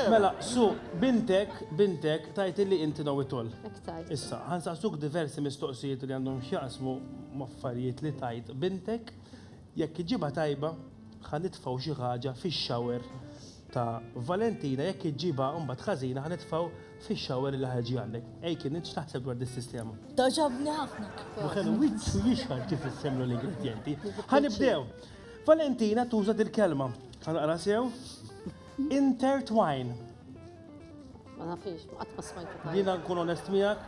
Mela, Su, bintek, bintek, tgħid illi inti Know-it-all. Hekk tgħid. Issa, ħansaqsuk diversi mistoqsijiet li għandhom x'jaqsmu m'affarijiet li tgħid bintek, jekk iġġibha tajba, ħa nitfgħu xi ħaġa fix-shower ta' Valentina, jekk iġġibha mbagħad ħażina ħa nitfgħu fix-shower li ħa jiġi għandek. Ej kien int x'taħseb dwar dis-sistema? Togħġobni ħafna kif. Ma kellu wiċċu jixħar kif issemlu l-ingredjenti. Ħa nibdew. Valentina tuża dil-kelma. Ħa naqra sew. Intertwine. Ma nafix, qatt ma smajtu tajjeb. Jiena nkun onest miegħek,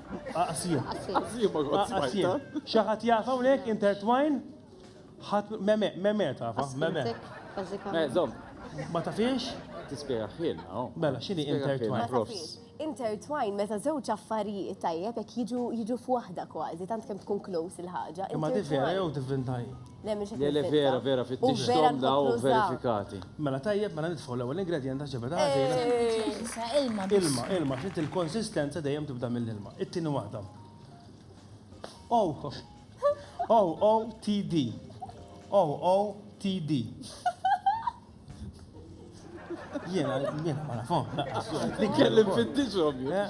aqsim. Aqsim. Xi ħadd jaf hawnhekk intertwine? Ħadd meme, meme tafa, meme. Meżom. Ma tafix? Tispjega ħin, oh. Mela, x'inhi intertwine? Profs. Intertwine meta żewġ affarijiet tajjeb jekk jiġu jiġu f'waħda kważi, tant kemm tkun close il-ħaġa. Imma tifhem jew tifhem tajjeb? Le, le, vera, vera, fittix xtom daw verifikati. Mela tajjeb, mela nitfgħu l-ewwel ingredient ta' ġebet għażina. Ilma, ilma, ilma, xit il-konsistenza dejjem tibda mill-ilma. It-tieni waħda. Oh, oh, oh, TD. Oh, oh, TD. Jena, jena, ma nafhom. Li kellim fittixhom, jena.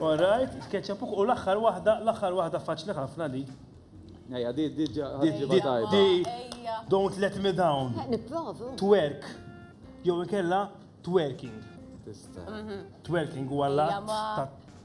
All right, ketchup u l-aħħar waħda, l-aħħar waħda faċli ħafna li. Ejja, di di di Don't let me down. Nipprovu. Twerk. Jew ikella twerking. Tista. Mhm. Twerking huwa l-att